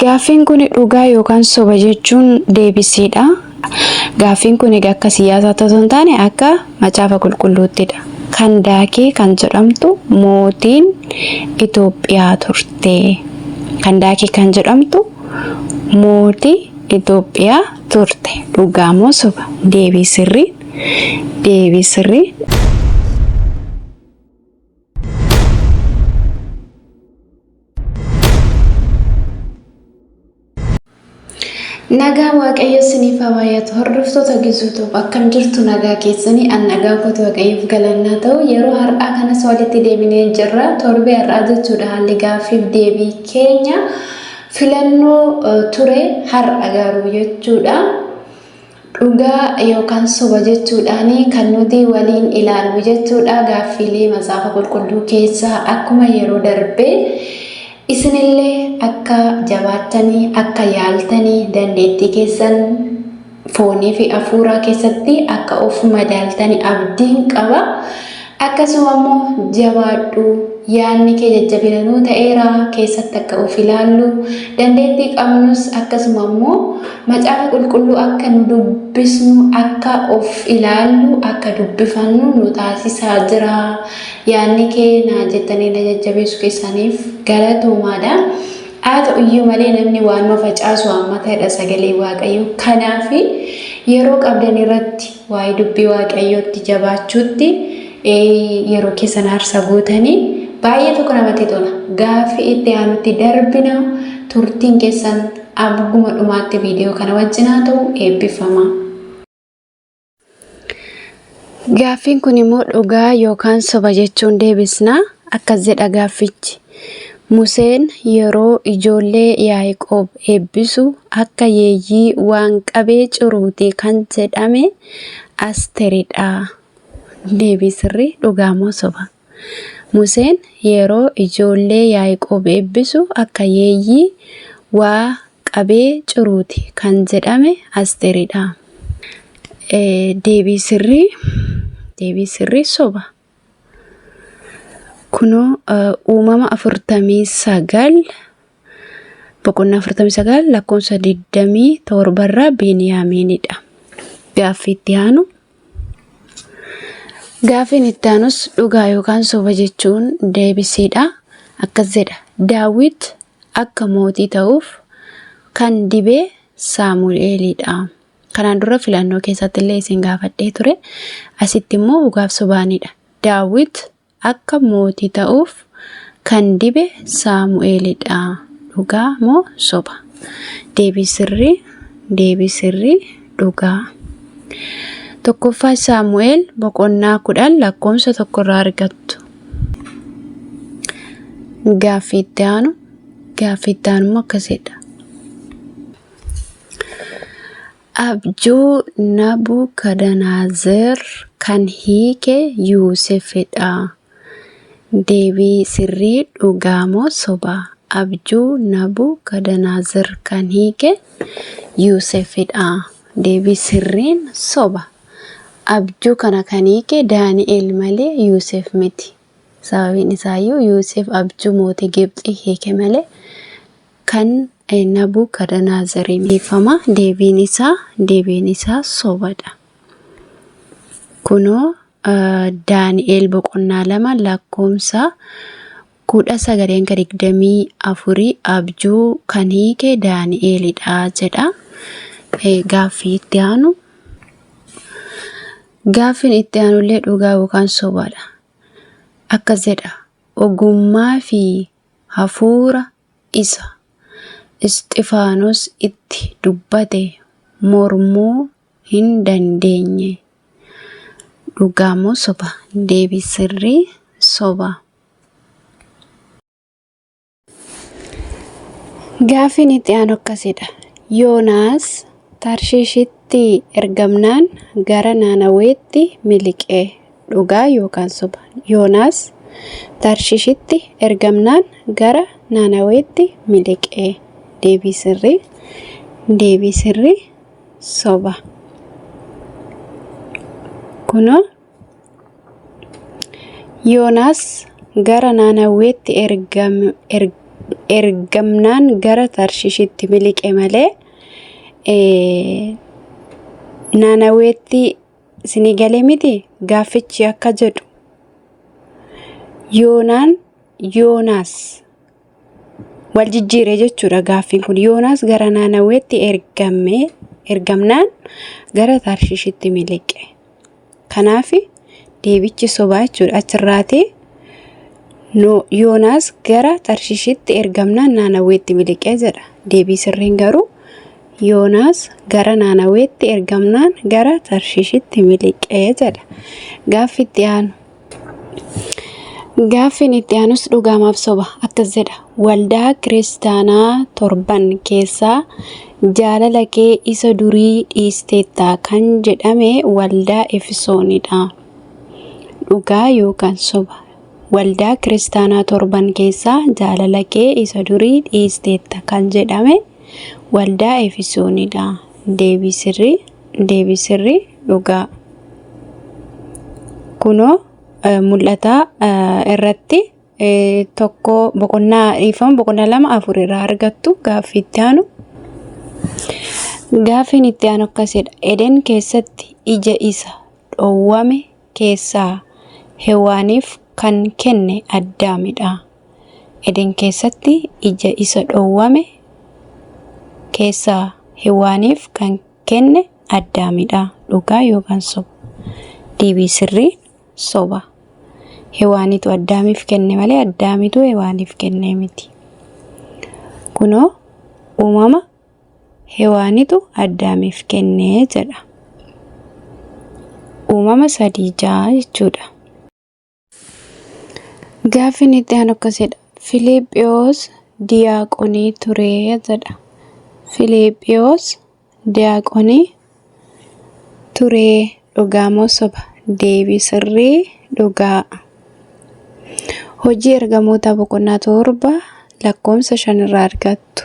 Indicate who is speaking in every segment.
Speaker 1: Gaaffiin kun dhugaa yookaan soba jechuun deebisiidha. Gaaffiin kun egaa akka siyaasaatti osoo hin taane akka macaafa qulqulluuttidha. Kan daakee kan jedhamtu mootiin Itoophiyaa turte. Kan daakee kan jedhamtu mootii Itoophiyaa turte. Dhugaa moo soba? Deebii sirrii. Deebii sirrii. Nagaa Waaqayyo isiniif haa baay'atu. Hordoftoota Gizuutuuf akkam jirtu nagaa keessanii an nagaa kootu Waaqayyoof galannaa ta'u yeroo har'aa kanas walitti deebinee jirra. Torbee har'aa jechuudha haalli gaaffiif deebii keenya filannoo ture har'a garuu jechuudha. Dhugaa yookaan soba jechuudhaan kan nuti waliin ilaallu jechuudha gaaffiilee macaafa qulqulluu keessaa akkuma yeroo darbee isinillee akka jabaattanii akka yaaltanii dandeettii keessan foonii fi hafuuraa keessatti akka of madaaltanii abdiin qaba. Akkasuma immoo jabaadhu yaadni kee jajjabina nuu ta'eera keessatti akka of ilaallu dandeettii qabnus akkasuma immoo macaafa qulqulluu akka nu dubbisnu akka of ilaallu akka dubbifannu nu taasisaa jira yaadni kee naa jettanii na jajjabeessu keessaniif galatoomaadha haa ta'u iyyuu malee namni waanuma facaasu haammatadha sagalee waaqayyoo kanaafi yeroo qabdan irratti Waa'ee dubbii Waaqayyootti jabaachuutti yeroo keessan aarsaa gootanii baay'ee tokko namatti tola. Gaaffii itti aanutti darbina turtiin keessan abbuma dhumaatti viidiyoo kana wajjin haa ta'u eebbifama. Gaaffiin kun immoo dhugaa yookaan soba jechuun deebisna. Akkas jedha gaaffichi. Museen yeroo ijoollee Yaaqoob eebbisu akka yeeyyii waan qabee ciruuti kan jedhame Asteridha. Deebii sirrii dhugaa moo soba? Museen yeroo ijoollee Yaaqoob eebbisu akka yeeyyii waa qabee ciruuti kan jedhame Asteridha. Deebii sirrii deebii sirrii soba. Kunoo uumama 49 boqonnaa 49 lakkoofsa 27 irraa Beniyaamiinidha. Gaaffii itti aanu. Gaaffiin itti aanus dhugaa yookaan soba jechuun deebisiidha. Akkas jedha. Daawit akka mootii ta'uuf kan dibee Saamu'eelidha. Kanaan dura filannoo keessatti illee isin gaafadhee ture. Asitti immoo dhugaaf sobaanidha. Daawit akka mootii ta'uuf kan dibe Saamu'eelidha. Dhugaa moo soba? Deebii sirrii, deebii sirrii, dhugaa. Tokkoffaa Saamu'eel boqonnaa kudhan lakkoofsa tokkorraa argattu. Gaaffii itti aanu, gaaffii itti aanu immoo akkasidha. Abjuu Nabukadanaazer kan hiike Yoosefidha. Deebii sirrii dhugaa moo soba? Abjuu Nabukadanaazer kan hiike Yoosefidha. Deebii sirriin soba. Abjuu kana kan hiike Daani'el malee Yoosef miti. Sababiin isaayyuu Yoosef abjuu mootii Gibxii hiike malee kan Nabukadanaazarii miifama deebiin isaa deebiin isaa sobadha. Kunoo Daani'eel boqonnaa lama lakkoomsa kudha sagalee hanga digdamii afurii abjuu kan hiike Daani'eelidha jedha. Gaaffii itti aanu. Gaaffiin itti aanullee dhugaa yookaan sobaadha. Akkas jedha ogummaa fi hafuura isa Isxifaanos itti dubbate mormuu hin dandeenye. Dhugaa moo soba? Deebii sirrii soba. Gaaffiin itti aanu akkasidha. Yoonaas Tarshiishitti ergamnaan gara Naanaweetti miliqe. Dhugaa yookaan soba? Yoonaas Tarshishitti ergamnaan gara Naanaweetti miliqe. Deebii sirrii Deebii sirrii soba. Kunoo Yoonaas gara Naanaweetti ergam- er- ergamnaan gara Tarshishitti miliqe malee eh, Naanaweetti Isinii galee miti gaaffichi akka jedhu. Yoonaan Yoonaas wal jijjiire jechuudha gaaffiin kun. Yoonaas gara naannaweetti ergamee ergamnaan gara Tarshishitti miliqe. Kanaaf deebichi sobaa jechuudha achirraati. Yoonaas gara Tarshishitti ergamnaan naannaweetti miliqe jedha. Deebii sirriin garuu Yoonaas gara Naanaweetti ergamnaan gara Tarshiishitti miliqe jedha. Gaaffi itti aanu. Gaaffiin itti aanus dhugaamaaf soba akkas jedha. Waldaa kiristaanaa torban keessaa jaalala kee isa durii dhiisteetta kan jedhame waldaa Efesoonidha. Dhugaa yookaan soba. Waldaa kiristaanaa torban keessaa jaalala kee isa durii dhiisteetta kan jedhame Waldaa Efesoonii dha. Deebii sirrii, deebii sirrii, dhugaa. Kunoo eh, mul'ataa eh, irratti eh, tokko boqonnaa dhiifama boqonnaa lama afur irraa argattu gaaffii itti aanu. Gaaffiin itti aanu akkasidha. Eden keessatti ija isa dhowwame keessaa Hewwaaniif kan kenne Addaami dha. Eden keessatti ija isa dhowwame keessaa Hewwaaniif kan kenne Addaami dha. Dhugaa yookaan soba? Deebii sirriin soba. Hewwaanitu Addaamiif kenne malee Addaamitu Hewwaaniif kenne miti. Kunoo uumama Hewaanitu Addaamiif kenne jedha. Uumama sadii ja'a jechuudha. Gaaffiin itti aanu akkas jedha. Filiiphiyoos diyaaqonii ture jedha. Filiiphiyoos diyaaqonii turee dhugaa moo soba? Deebii sirrii dhugaa. Hojii ergamootaa boqonnaa torba lakkoofsa shan irraa argattu.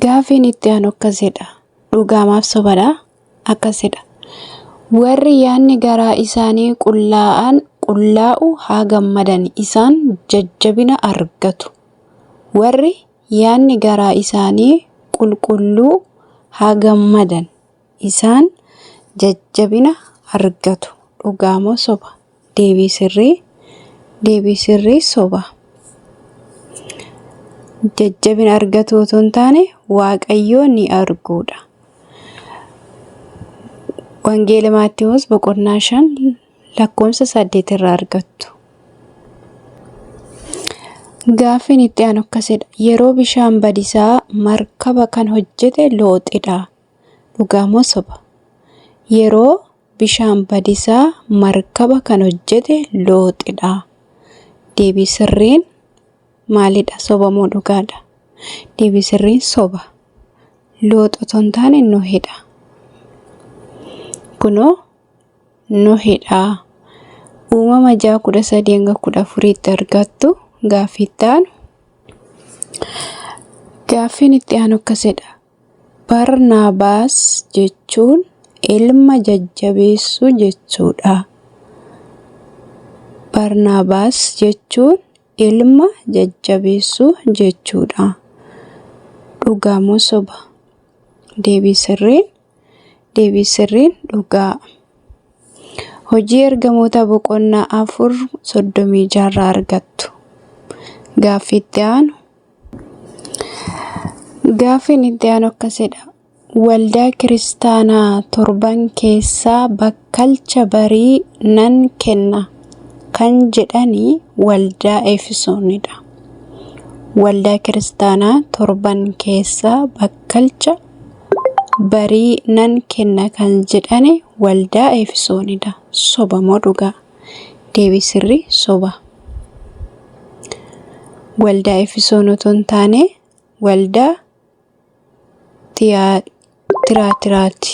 Speaker 1: Gaafiin itti aanu akkas jedha. Dhugaamaaf sobadha akkas jedha. Warri yaadni garaa isaanii qullaa'an qullaa'u haa gammadan isaan jajjabina argatu. Warri yaadni garaa isaanii qulqulluu haa gammadan isaan jajjabina argatu dhugaa moo soba deebii sirrii deebii sirrii soba jajjabina argatu otoo hin taane waaqayyoo ni arguudha wangeela maattiwoos boqonnaa 5 lakkoofsa 8 irraa argattu. Gaaffiin itti aanu akkasidha. Yeroo bishaan badisaa markaba kan hojjete looxidha. Dhugaa moo soba? Yeroo bishaan badisaa markaba kan hojjete looxidha. Deebii sirriin maalidha? Soba moo dhugaadha? Deebii sirriin soba. Loox otoo hin taane Nohidha. Kunoo Nohidha. Uumama 6 13-14tti argattu gaaffiin itti aanu. Gaaffiin itti aanu akkasidha. Barnaabaas jechuun ilma jajjabeessu jechuudha. Barnaabaas jechuun ilma jajjabeessu jechuudha. Dhugaa moo soba? Deebii sirriin Deebii sirriin dhugaa. Hojii ergamoota boqonnaa afur soddomii jaarraa argattu. Gaaffii itti aanu. Gaaffiin itti aanu akkasidha. Waldaa kiristaanaa torban keessaa bakkalcha barii nan kenna kan jedhanii waldaa Efesoonidha. Waldaa kiristaanaa torban keessaa bakkalcha barii nan kenna kan jedhane waldaa Eefisoonidha. Soba moo dhugaa? Deebii sirrii soba. Waldaa Eefisoon otoo hin taane waldaa Tiyaatiraati.